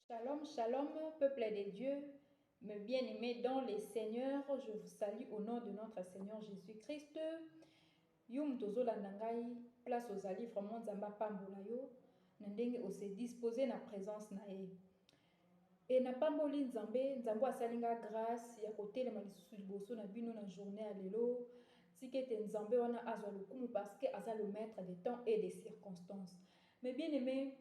Shalom shalom peuple de Dieu me bien aimé dans le Seigneur je vous salue au nom de notre Seigneur Jésus Christ yo moto ozolanda ngai place ozali vraiment nzambe apambola yo na ndenge ose dispose na présence na ye e napamboli nzambe nzambe asali ngai grâce ya kotelema lisusu liboso na bino na journée ya lelo tika ete nzambe wana azwa lokumu parce que aza le maître de temps et de circonstances mais bien aimé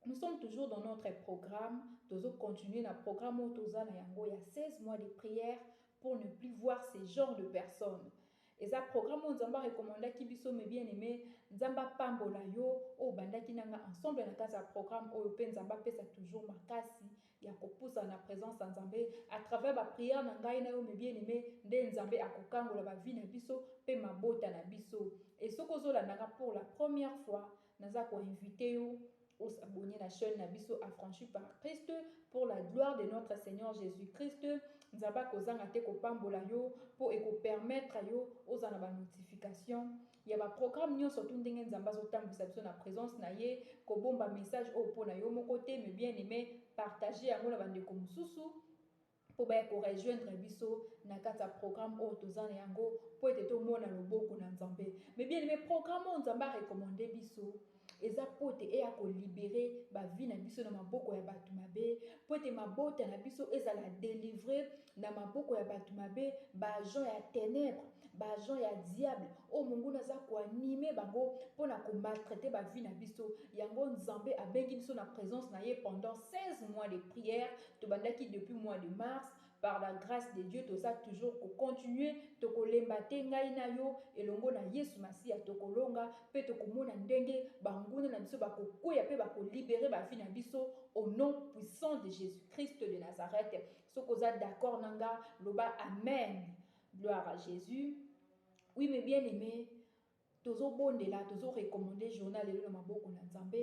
Nous sommes toujours dans notre programme, tozo continuer na programme oyo toza na yango ya 16 mois de prière pour ne plus voir ce genre de personnes. Eza programme oyo Nzambe recommandaki biso mes bien aimé, Nzambe apambola yo oyo bandaki nanga ensemble na kati ya programme oyo pe Nzambe apesa toujours makasi ya kopusa na présence ya Nzambe à travers ba prière na ngai na yo mes bien aimé, nde Nzambe akokangola ba vie na biso pe mabota na biso. Et soki ozolanda nga pour la première fois, Naza ko inviter yo o s'abonner na chaine na biso Affranchis par Christ pour la gloire de notre Seigneur Jesus Christ. Nzambe akozanga te kopambola yo po eko permettre yo ozala na ba notifications ya ba programmes nionso tout ndenge Nzambe azotambwisa biso na presence na ye. Kobomba message oyo pona yo moko te mais bien aime partager yango na bandeko mosusu. mpo baya ko rejoindre biso na kati ya programme oyo toza na yango mpo ete tomona loboko na Nzambe. Mes bien-aimes, programme oyo Nzambe a recommander biso eza mpo ete eya ko liberer ba vie na biso na maboko ya batu mabe, mpo ete mabota na biso ezala delivre na maboko ya batu mabe, ba agents ya tenèbres, ba agents ya diable oyo monguna aza ko animer bango mpo na ko maltraiter ba vie na biso. Yango Nzambe abengi biso na presence na ye pendant 16 mois de prière. Tobandaki depuis mois de mars par la grace de Dieu toza toujours ko continuer tokolemba te ngai na yo elongo na yesu masiya tokolonga pe tokomona ndenge banguna na biso bakokweya pe bako liberer ba vie na biso au nom puissant de Jesus Christ de Nazareth soki oza d'accord na nga loba amen gloire à Jesus oui mes bien aime Tozo bondela tozo recommande journal lelo na maboko na nzambe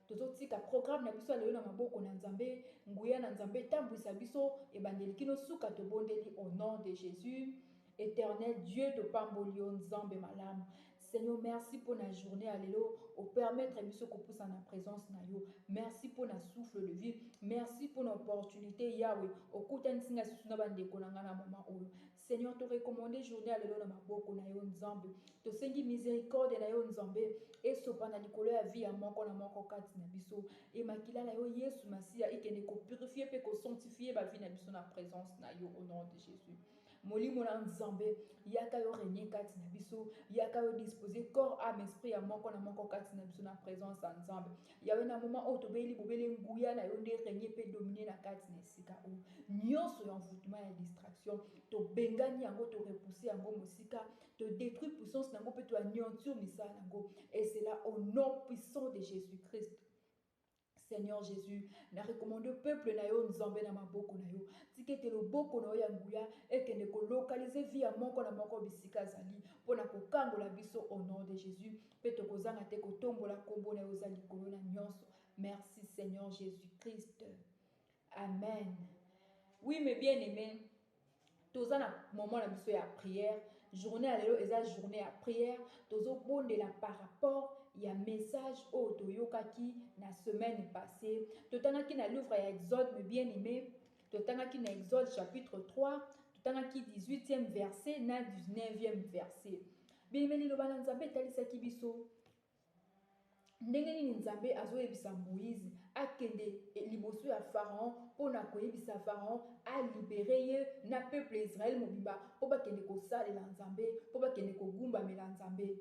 tozo tika programme na biso ya lelo na maboko na nzambe nguya na nzambe etambuisa biso ebandeli kino suka tobondeli au nom de jesus eternel dieu topamboli yo nzambe malamu seigneur merci pona journee ya lelo opermettre biso kopusa na presence na yo merci pona souffle de vie merci pona opportunité yawe okutanisi ngai susu na bandeko na ngai na moma oyo Seigneur to recommande journee ya lelo na maboko na yo nzambe tosengi misericorde na yo nzambe esopana likolo ya vie ya moko na moko kati na biso emakila na yo yesu masiya ekende kopurifie mpe kosanctifie bavie na biso na presence na yo au nom de jesus molimo na nzambe yaka yo renie kati na biso yaka yo dispose corps ame esprit ya moko na moko kati na biso na presence ya nzambe Yahweh, na moment oyo tobeli bobele nguya na yo nde règne mpe domine na kati na esika oyo. Nyonso ya envoûtement ya distraction tobengani yango, to repousser yango mosika, to détruire puissance na yango mpe to anéantir misala na yango. Et cela au nom puissant de Jésus-Christ. Seigneur Jésus, na recommande peuple na yo Nzambe na maboko na yo. Tika ete loboko na yo ya nguya ekende kolokalize vi ya moko na moko bisika azali mpo na kokangola biso au nom de Jésus. Pe tokozanga te kotombola kombo na ye oza likolo na nionso. Merci Seigneur Jesus Christ. Amen. Oui mes bien aimé toza na moment na biso ya prière journée ya lelo eza journée ya prière tozobondela par rapport ya message oyo toyokaki na semaine passée totangaki na livre ya exode me bien aimé totangaki na exode chapitre 3 totangaki 18e verset na 19e verset Biyebeli Liloba na Nzambe etalisaki biso ndenge nini Nzambe azoyebisa Moïse akende liboso ya Pharaon mpo na koyebisa Pharaon alibere ye na peuple ya Israël mobimba mpo bakende kosalela Nzambe, mpo bakende kogumbamela Nzambe.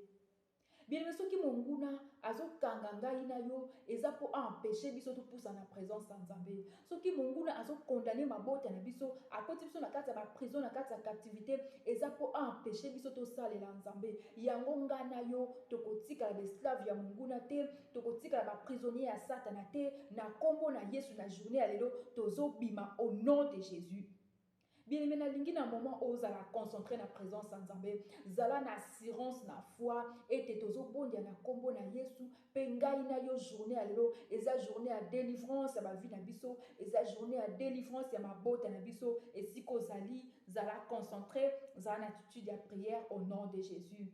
Bien soki monguna azokanga ngai na yo eza mpo aempeshe biso topusa na presence ya Nzambe. Soki monguna azo condamner mabota na biso, akoti biso na kati ya ba prison, na kati ya captivite, eza po a empecher biso tosalela Nzambe. Yango nga na yo tokotikala ba esclaves ya monguna te, tokotikala ba prisonniers ya satana te, na kombo na Yesu na journee ya lelo tozobima au nom de Jesus. Bien aime nalingi na moment oyo ozala concentre na presence ya Nzambe, zala na assurance na foi ete tozobondia na kombo na Yesu pe ngai na yo journee ya lelo eza journee ya delivrance ya ba vie na biso, eza journee ya delivrance ya mabota na biso, esika ozali zala concentre, zala na attitude ya prière au nom de Jesus.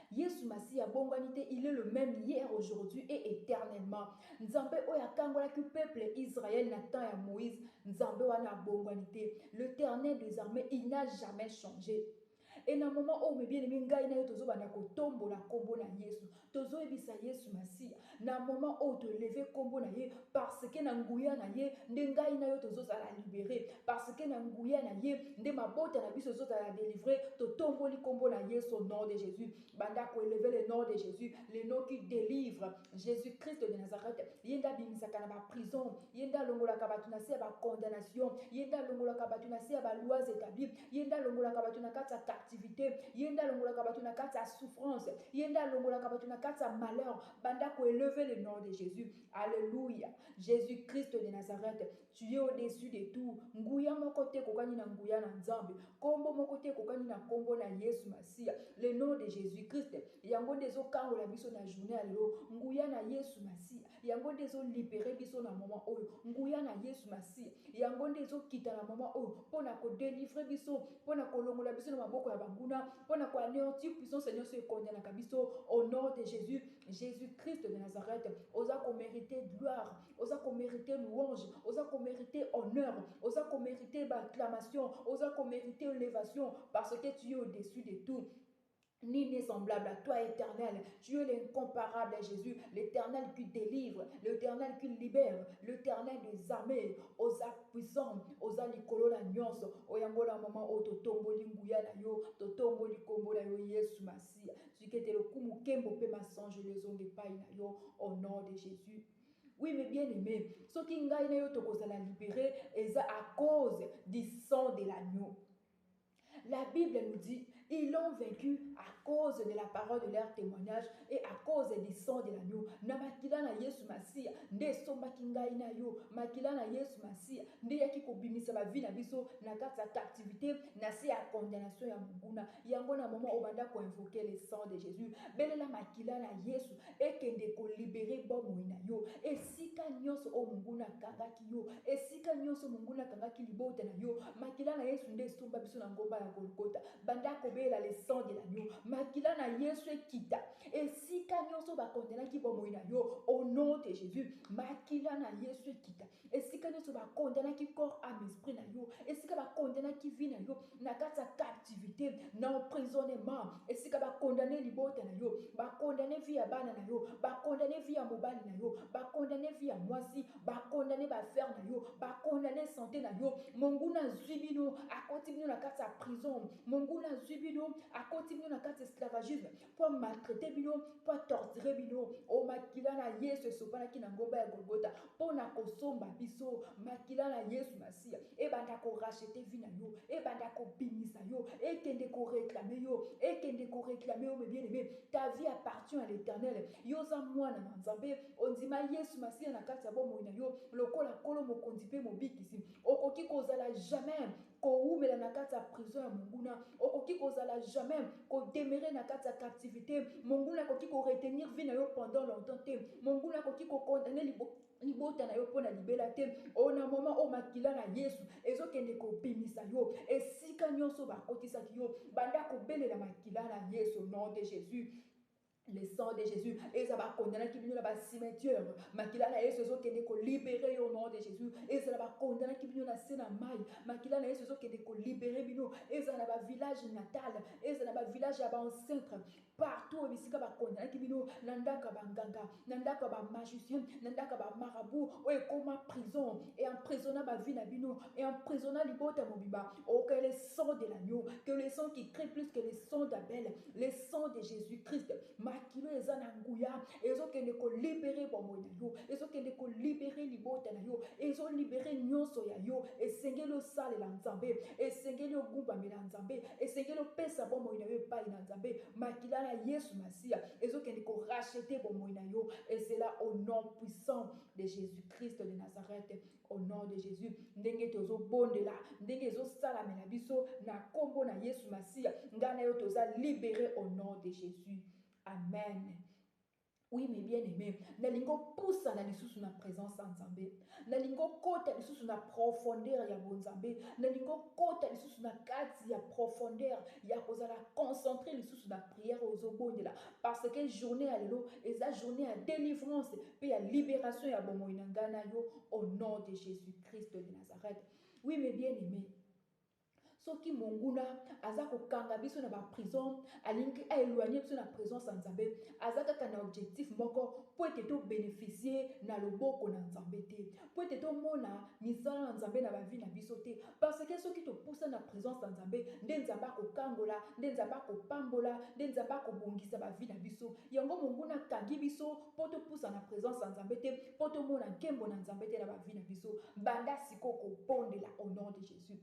Yesu masiya abongwani te il est le meme hier aujourd'hui et eternellement nzambe oyo akangolaki peuple Israël na temps ya Moïse nzambe wana abongwani te l'eternel des armées il n'a jamais changé et na moment oyo mes bien aimé ngai na yo tozobanda kotombola kombo na Yesu tozoyebisa Yesu masiya Na moment oyo to eleve kombo na ye parce que na nguya na ye nde ngai na yo tozo zala libere parce que na nguya na ye nde mabota na biso ezo zala delivre to tomboli kombo na yesu au nom de jesus banda ko eleve le nom de jesus le nom qui delivre jesus christ de nazareth ye nde abimisaka na ba prison Ye nde alongolaka bato na se ya ba condamnations, Ye nde alongolaka bato na se ya ba lois etablis, Ye nde alongolaka bato na kati ya captivite, Ye nde alongolaka bato na kati ya souffrance, Ye nde alongolaka bato na kati ya malheur, banda ko elever le nom de Jesus. Alleluia! Jesus Christ de Nazareth, tu es au-dessus de tout, nguya moko te ekokani na nguya na Nzambe, kombo moko te ekokani na kombo na Yesu Masiya, le nom de Jesus Christ, yango nde ezo kangola biso na journee ya lelo, nguya na Yesu Masiya. yango nde ezo libere biso na moment oyo nguya na yesu masiya yango nde ezokita na moment oyo mpo na kodelivre biso mpo na kolongola biso na maboko ya banguna mpo na koaneantir puissance nyonso ekondanaka biso au nom de jésus jésus christ de nazareth oza komerite gloire oza komerite louange oza komerite honneur oza komerite baacclamation oza komerite elevation parce que tu es au-dessus de tout Nul n'est semblable à toi, éternel. Tu es l'incomparable, Jésus, l'éternel qui délivre, l'éternel qui libère, l'éternel des armées. Oza puissant, oza likolo na nyonso. Oyango na maman o totomboli nguya na yo, totomboli kombo na yo Yesu Masia. Sikete lokumu kembo pe masange lezonge pai na yo au nom de Jésus. Oui, mais bien aimé, ce qui ngai na yo tokozala libéré, eza à cause du sang de l'agneau. La Bible nous dit, ils l'ont vaincu à cause de la parole de leur témoignage et à cause du sang de l'agneau. Na makila na Yesu Masiya nde esombaki ngai na yo. Makila na Yesu Masiya nde yaki kobimisa ba vie na biso na kati ya captivité, na se ya condamnation ya monguna. Yango na moment obanda ko invoquer le sang de Jesus, belela makila na Yesu. Ekende ko liberer bomoi na yo esika nionso oyo monguna akangaki yo, esika nionso monguna akangaki libota na yo, makila na Yesu nde esomba biso na ngomba ya Golgotha, banda kobela le sang de l'agneau, makila na Yesu ekita esika nionso ba condenaki bomoi na yo au nom de Jesus, makila na Yesu ekita esika nionso ba condenaki corps, ame, esprit na yo, esika ba condenaki vie na yo, na kati ya captivite, na emprisonnement, esika ba condamne libota na yo, ba condamne vie ya bana na yo, ba condamne vie ya mobali na yo, ba condamne vie ya mwasi, ba condamne ba affaires na yo, ba condamne sante na yo, monguna azwi bino, akoti bino na kati ya prison, monguna azwi bino, akoti bino na kati ya esclavagisme, mpo amaltraite bino mpo atortire bino o makila na yesu esopanaki na ngomba ya golgota mpo na kosomba biso makila na yesu masiya ebanda korachete vi na yo ebanda kobimisa yo ekende koreklame yo ekende koreklame yo mebieneme ta vie appartient à l'éternel yo oza mwana na nzambe ondima yesu masiya na kati ya bomoi na yo lokola nkolo mokonzi mpe mobikisi okoki kozala jamais Kowumela na kati ya prison ya monguna, okoki kozala jamais ko demeurer na kati ya captivite, monguna akoki ko retenir vie na yo pendant longtemps te, monguna akoki ko condamner libo libota na yo mpo na libela te, o na moment oyo makila na Yesu ezokende kobimisa yo esika nionso bakotisaki yo, banda kobelela makila na Yesu, au nom de Jesus. Le sang de Jesus eza ba condamnaki bino na ba cimetière makila na Yesu ezo kende ko libere yo au nom de Jesus ezala ba condamnaki bino na se na mai makila na Yesu ezo kende ko libere bino ezala na ba village natal ezala na ba village ya ba ancêtre partout bisika ba condamnaki bino na ndako ya ba nganga na ndako ya ba magicien na ndako ya ba marabout oyo ekoma prison et emprisonna ba vie na bino et emprisonna libota mobimba au que le sang de l'agneau que le sang qui crie plus que le sang d'Abel Le sang de Jesus Christ, makilo eza na nguya, ezo kende ko libere bomoi na yo, ezo kende ko libere libota na yo, ezo libere nyonso ya yo. Esengeli osalela Nzambe, esengeli ogumbamela Nzambe, esengeli opesa bomoi na yo epai na Nzambe. Makila na Yesu Masiya ezo kende ko racheter bomoi na yo. Ezela au nom puissant de Jesus Christ de Nazareth. Au nom de Jesus, ndenge tozo bondela, ndenge ezo salamela biso na kombo na Yesu Masiya, nga na yo toza libere au nom de Jesus. Amen. Oui, mes bien-aimés, nalingi opusana lisusu na présence ya Nzambe. Nalingi okota lisusu na profondeur ya bonzambe. Nalingi okota lisusu na kati ya profondeur ya kozala concentré lisusu na prière ozobondela. Parce que journee ya lelo eza journee ya delivrance pe ya liberation ya bomoyi na ngai na yo au nom de Jesus Christ de Nazareth. Oui mes bien aimee, soki monguna aza kokanga biso na baprison alingi aeloigne biso na présence ya nzambe aza kaka na objectif moko mpo ete tobeneficie na loboko na nzambe te mpo ete tomona misala na nzambe na bavi na biso te Parce que soki to pusani na presence na Nzambe, nde Nzambe ako kangola, nde Nzambe ako pambola, nde Nzambe ako bongisa ba vie na biso. Yango monguna akangi biso po to pusana na presence na Nzambe te, po to mona nkembo na Nzambe te na ba vie na biso. Banda sikoyo ko bondela au nom de Jesus.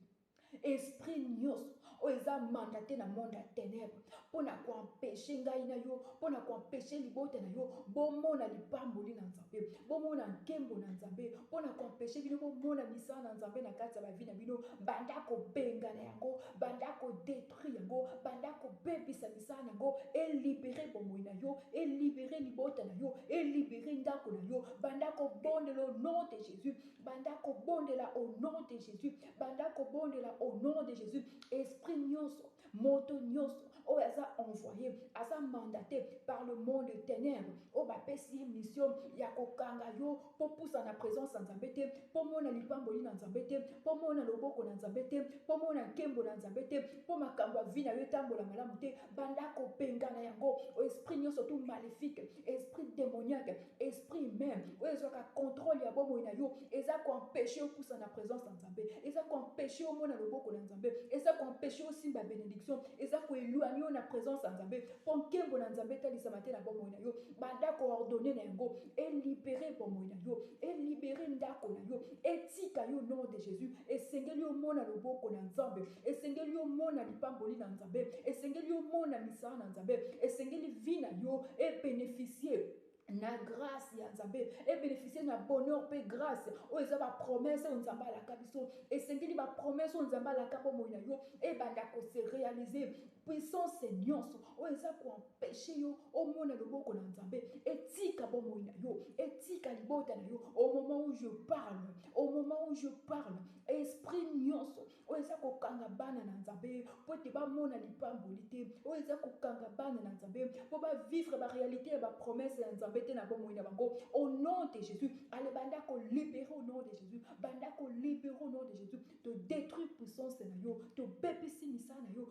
Esprit nioso. oyo eza mandate na monde ya tenebre mpo na koempeshe ngai na yo mpo na koempeshe libota na yo bomona lipamboli na nzambe bomona nkembo na nzambe mpo na koempeshe bino bomona misala na nzambe na kati ya bavi na bino banda kobengana yango banda kodetruire yango banda kobebisa misala na yango elibere bomoi na yo elibere libota na yo elibere ndako na yo banda kobondela au nom de jésus banda kobondela au nom de jésus banda kobondela au nom de jésus esprit nyonso moto nyonso oyo aza envoye aza mandate par le monde de ténèbre oyo bapesi ye mission ya kokanga yo mpo pusa na présence ya nzambe te mpo mona lipamboli na nzambe te mpo mona loboko na nzambe te mpo mona nkembo na nzambe te mpo makambo ya vi na yo etambola malamu te banda kobengana yango esprit nyonso tu maléfique esprit démoniaque Esprit meme oyo ezwaka controle ya bomoi na yo eza ko empecher yo pusa na presence ya Nzambe, eza ko empecher yo omona loboko na Nzambe, eza ko empecher yo osimba benediction, eza ko eloigner yo na presence ya Nzambe mpo nkembo na Nzambe etalisama te na bomoi na yo. Banda ko ordonner na yango e liberer bomoi na yo, e liberer ndako na yo, etika yo au nom de Jesus. Esengeli omona loboko na Nzambe. Esengeli omona lipamboli na Nzambe, esengeli omona misala na Nzambe, esengeli vie na yo e beneficier na grace ya Nzambe, e beneficier na bonheur pe grace oyo eza ba promesses oyo Nzambe alaka biso. Esengeli ba promesses oyo Nzambe alaka bomoi na yo ebanda ko se realiser. Puissance nyonso oyo eza ko empesher yo omona loboko na Nzambe etika bomoi na yo, etika libota na yo au moment où je parle, au moment où je parle, esprit nyonso Oyo eza kokanga bana na Nzambe mpo ete bamona lipamboli te. Oyo eza kokanga bana na Nzambe mpo ba vivre ba realites ya ba promesses ya Nzambe te na bomoi na bango au nom de Jesus. Allez banda ko liberer au nom de Jesus. Banda ko liberer au nom de Jesus. To detruire puissance na yo. To bebisi misala na yo.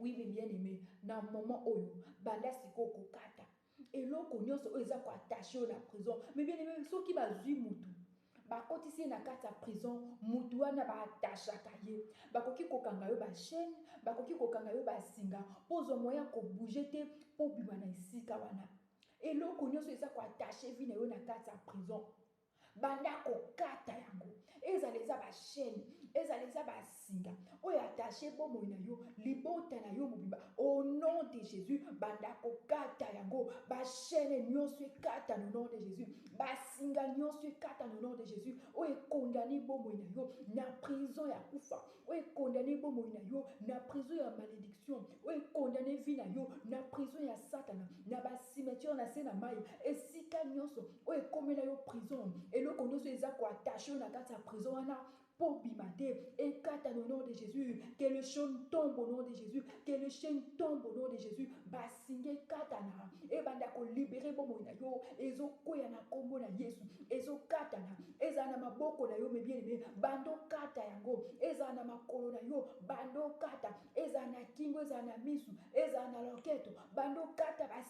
Oui mes bien aime na moment oyo banda sikoyo kokata eloko nyonso oyo eza koattache yo na prison mes bien aime soki bazwi mutu bakotisi ye na kati ya prison mutu wana baatachaka ye bakoki kokanga yo bachaine bakoki kokanga yo basinga mpo ozwa moyen ya kobouge te mpo obima na esika wana eloko nyonso eza koattache vi na yo na kati ya prison banda kokata yango ezala eza bashene ezala eza basinga oyo atashe bomoi na yo libota na yo mobimba au nom de jésus banda kokata yango bashene nyonso ekata no nom de jésus basinga nyonso ekata no nom de jésus oyo ekondani bomoi na yo na prison ya kufa oyo ekondani bomoi na yo na prison ya malédiction oyo ekondani vi na yo na prison ya satana na bacimetiere na se na mai esika nyonso Oyo ekomela yo prison eloko nioso eza ko attache yo na kati ya prison wana po obima te ekata no nom de Jesus que le chaine tombe au nom de Jesus que le chaine tombe au nom de Jesus ba singa ekatana ebanda ko libere bomoi na yo ezo kweya na kombo na Yesu ezo katana ezala na maboko na yo me bien aime bando kata yango ezala na makolo na yo bando kata ezala na kingo ezala na misu ezala na loketo bando kata ba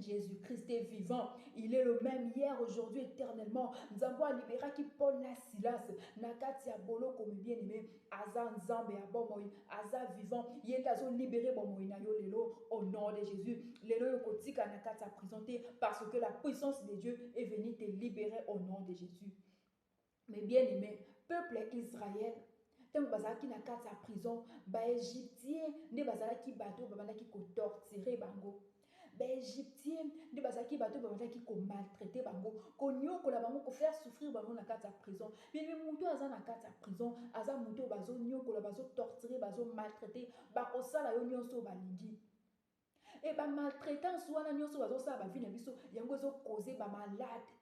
Jesus Christ est vivant, il est le meme hier, aujourd'hui, eternellement. Nzambo a libera ki Paul na Silas, na kati ya bolo komi bien aimé, aza Nzambe ya bomoi, aza vivant, yende azo libere bomoi na yo lelo, au nom de Jésus, lelo yo kotika na kati ya prison te, parce que la puissance de Dieu est venue te libere au nom de Jésus. Mes bien aime peuple ya Israël ntango bazalaki na kati ya prison baegyptien nde bazalaki bato oyo babandaki kotortire bango baegyptien nde bazalaki bato oyo babandaki komaltraite bango konyokola bango kofaire souffrir bango na kati ya prison meme moto aza na kati ya prison aza moto oyo bazonyokola bazotortire bazomaltraite bakosala yo nyonso oyo balingi Et ba maltraitance wana nionso bazo sala ba vie na biso yango ezo cause ba malade.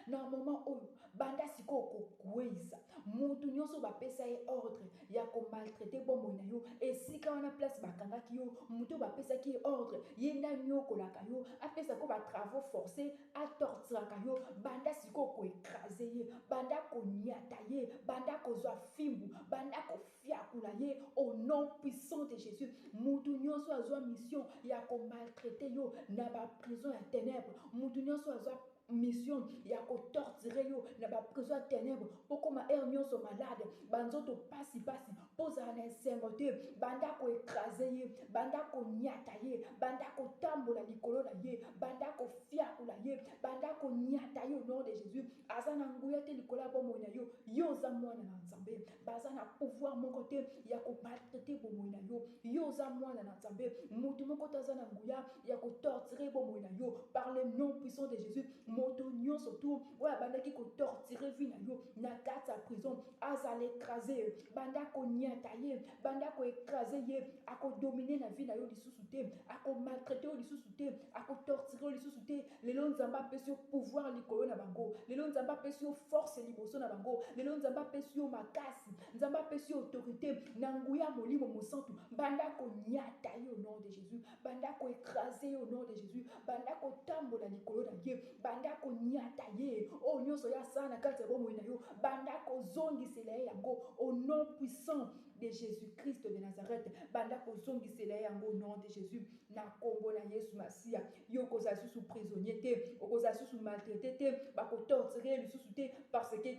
Na moment oyo banda sikoyo ko kueyisa mutu nionso ba pesa ye ordre ya ko maltraiter bomoi na yo esika wana place ba kangaki yo mutu ba pesaki ye ordre ye nde aniokolaka yo apesa ko ba travaux force a torturaka yo banda sikoyo ko ecraser ye banda ko niata ye banda ko zwa fimbu banda ko Fiakula ye au nom puissant de Jesus. Mutu nionso azwa mission ya ko maltraiter yo na ba prison ya tenèbres. Mutu nionso azwa mission ya ko torturer yo na ba prison ya tenèbres. Bokoma heure nionso malade, ba nzoto pasi pasi, bozala na esengo te. Banda ko ecraser ye, banda ko niata ye, banda ko tambola likolo na ye, banda ko fiakula ye, banda ko niata ye au nom de Jesus. Aza na nguya te likolo ya bomoi na yo. Yo oza mwana na Nzambe. Baza na pouvoir moko te ya ko maltraiter bomoyi na yo. Yo oza mwana na Nzambe, mutu moko te aza na nguya ya ko torturer bomoyi na yo par le nom puissant de Jesus. Moto nionso tout oyo abandaki ko torturer vie na yo na kati ya prison, azala ecrase. Banda ko niata ye, banda ko ecraser ye. Ako dominer na vie na yo lisusu te, ako maltraiter yo lisusu te, ako torturer yo lisusu te. Lelo nzambe apesi yo pouvoir likolo na bango lelo nzambe apesi yo force liboso na bango lelo nzambe apesi yo makasi nzambe apesi yo autorité na nguya ya molimo mosantu banda konyata ye au nom de jésus banda koekrase ye au nom de jésus banda kotambola likolo na ye banda konyata ye oyo nyonso ye asala na kati ya bomoi na yo banda kozongisela ye yango au nom puissant de Jesus Christ de Nazareth banda kozongisela ye yango nom de Jesus na kombo na Yesu Masiya yo okozala susu prisonnier te okozala susu maltraite te bakotortire lisusu te parce que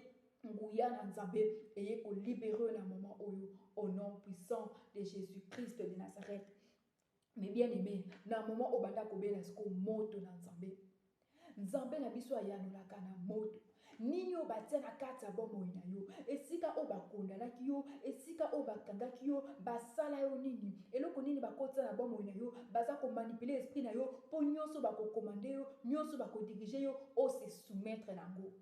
nguya na nzambe eye kolibere na moment oyo au nom puissant de Jesus Christ de Nazareth Mes bien aime na moment obanda kobela siko moto na nzambe nzambe na biso ayanolaka na moto nini oyo batia na kati ya bomoi na yo esika oyo bakondanaki yo esika oyo bakangaki yo basala yo nini eloko nini bakotisa na bomoi na yo baza komanipule esprit na yo mpo nyonso bakokomande yo nyonso bakodirige yo ose soumettre na yango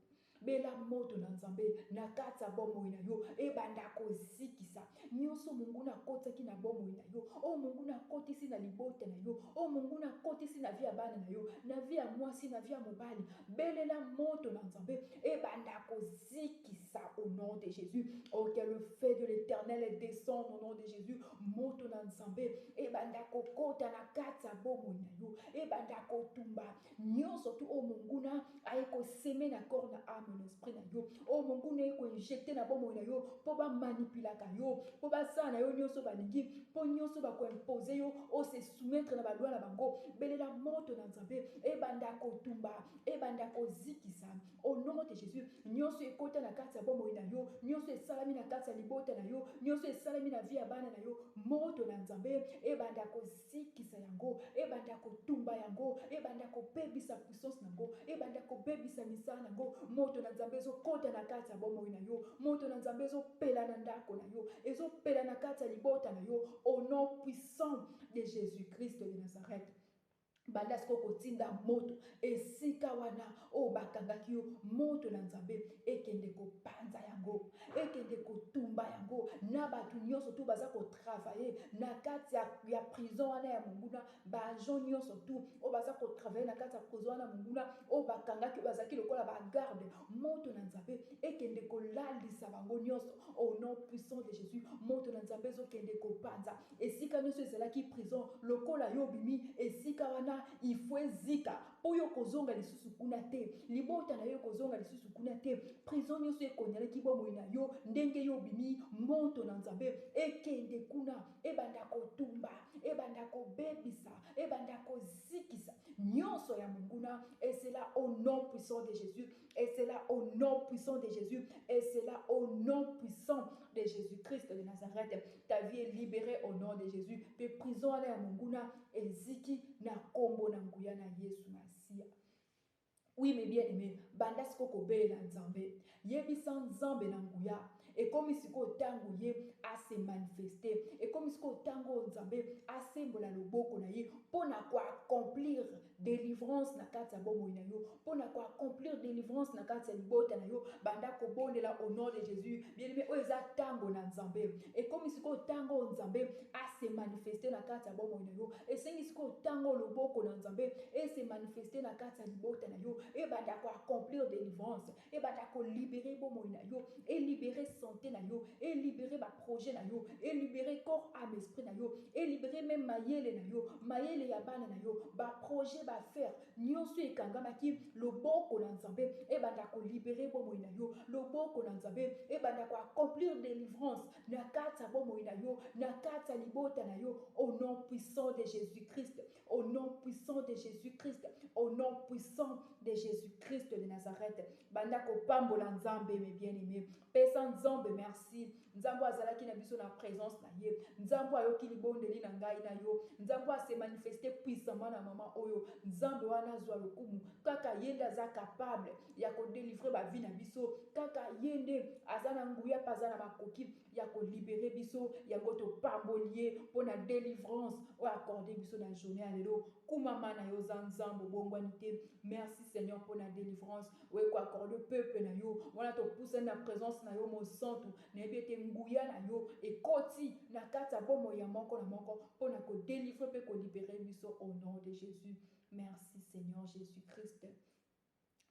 Bela moto na Nzambe na kati ya bomoi na yo ebanda kozikisa nioso monguna akotisaki na bomoi na yo, oyo monguna akotisi na libota na yo, oyo monguna akotisi na vie ya bana na yo, na vie ya mwasi, na vie ya mobali. Belela moto na Nzambe ebanda kozikisa au nom de Jesus. Oh que le feu de l'Eternel descende au nom de Jesus. Moto na Nzambe ebanda kokota na kati ya bomoi na yo, ebanda kotumba Nionso tout oyo monguna aye ko seme na corps na ame na esprit na yo, oyo monguna aye ko injecter na bomoi na yo po ba manipulaka yo, po basala na yo nionso balingi, po nionso bako imposer yo o se soumettre na ba lois na bango, belela moto na Nzambe ebanda ko tumba, ebanda ko zikisa au nom de Jesus, nionso ekota na kati ya bomoi na yo, nionso esalami na kati ya libota na yo, nionso esalami na vie ya bana na yo, moto na Nzambe ebanda ko. Sikisa yango, ebanda kotumba yango, ebanda kobebisa puissance na yango, ebanda kobebisa misala na yango. Moto na Nzambe ezo kota na kati ya bomoi na yo, moto na Nzambe ezo pela na ndako na yo, ezo pela na kati ya libota na yo au nom puissant de Jesus-Christ de Nazareth. Banda sikoyo kotinda moto esika wana Oyo bakangaki yo, moto na Nzambe ekende kopanza yango, ekende kotumba yango na batu nionso tout baza ko travailler na kati ya prison wana ya monguna, ba agents nionso tout oyo baza ko travailler na kati ya prison wana ya monguna, oyo bakangaki oyo bazalaki lokola ba gardes, moto na Nzambe ekende kolalisa bango nionso au nom puissant de Jesus, moto na Nzambe ezo kende kopanza esika nionso ezalaki prison, lokola yo obimi esika wana il faut ezika. Oyo kozonga lisusu kuna te. Libota na yo ekozonga lisusu kuna te. Prison nyoso ekonyalaki bomoi na yo, ndenge yo obimi, moto na Nzambe ekende kuna, ebanda kotumba, ebanda kobebisa, ebanda kozikisa nyoso ya monguna, et cela au nom puissant de Jesus. Et cela au nom puissant de Jésus. Et cela au nom puissant de Jésus-Christ de Nazareth. Ta vie est libérée au nom de Jésus. Pe prison à la munguna eziki na kombo na nguya na Yesu Masia. Oui, mais bien aimé, banda siko kobelela Nzambe. Yebisa Nzambe na nguya. Ekomi sikoyo ntango Ye a se manifester. Ekomi sikoyo ntango oyo Nzambe asembola loboko na Ye mpo na ko accomplir delivrance na kati ya bomoi na yo, mpo na ko accomplir delivrance na kati ya libota na yo. Banda kobondela au nom de Jesus. Bien-aime, oyo eza ntango na Nzambe. Ekomi sikoyo ntango oyo Nzambe a se manifester na kati ya bomoi na yo. Esengi sikoyo ntango oyo loboko na Nzambe e se manifester na kati ya libota na yo, ebanda ko accomplir delivrance. Ebanda ko liberer bomoi na yo, e liberer sante na yo, e liberer ba projets na yo, e liberer corps, ame, esprit na yo, e liberer meme mayele na yo, mayele ya bana na yo, ba projets, ba affaires nionso oyo ekangamaki, loboko na Nzambe ebanda ko liberer bomoi na yo, loboko na Nzambe ebanda ko accomplir delivrance na kati ya bomoi na yo, na kati ya libota na yo au nom puissant de Jesus-Christ. Au nom puissant de Jésus-Christ, au nom puissant de Jésus-Christ de Nazareth. Banda kopambola Nzambe mes bien-aimés. Pesa Nzambe merci. Nzambe azalaki na biso na présence na ye. Nzambe ayoki libondeli na ngai na yo. Nzambe a se manifester puissamment na maman oyo. Nzambe wana azwa lokumu. Kaka ye nde aza capable ya ko délivrer ba vie na biso. Kaka ye nde aza na nguya pa aza na makoki. ya ko liberer biso yango topamboli ye pona delivrance oyo accorde biso na journee ya lelo kumama na yo oza nzambe obongwani te merci seigneur pona delivrance oye ko accorde peuple na yo wana topusani na presence na yo mosantu nayebi ete nguya na yo ekoti na kati ya bomo ya moko na moko pona ko delivre pe ko liberer biso au nom de jesus merci seigneur jesus christ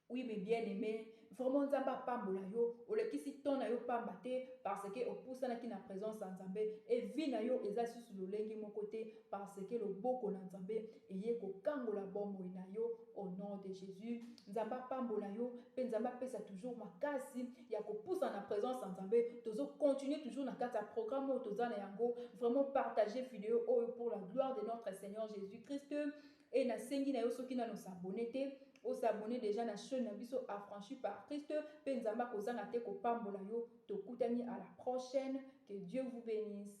Oui mais bien aime vraiment nzambe apambola yo olekisi temps nayo pamba te parce que opusanaki na presence ya nzambe et vie nayo eza lisusu lolenge moko te parce que loboko na nzambe eye kokangola bomoi nayo au nom de Jesus nzambe apambola yo pe nzambe apesa toujours makasi ya kopusana na presence ya nzambe tozo continuer toujours na kati ya programme oyo toza na yango vraiment partager video oyo pour la gloire de notre Seigneur Jesus Christ Et na sengi nayo soki nanu o s'abonner te, o s'abonner dejà na chaine na biso Affranchis par Christ pe Nzambe ako zanga te ko pambola yo, tokutani à la prochaine, que Dieu vous benisse.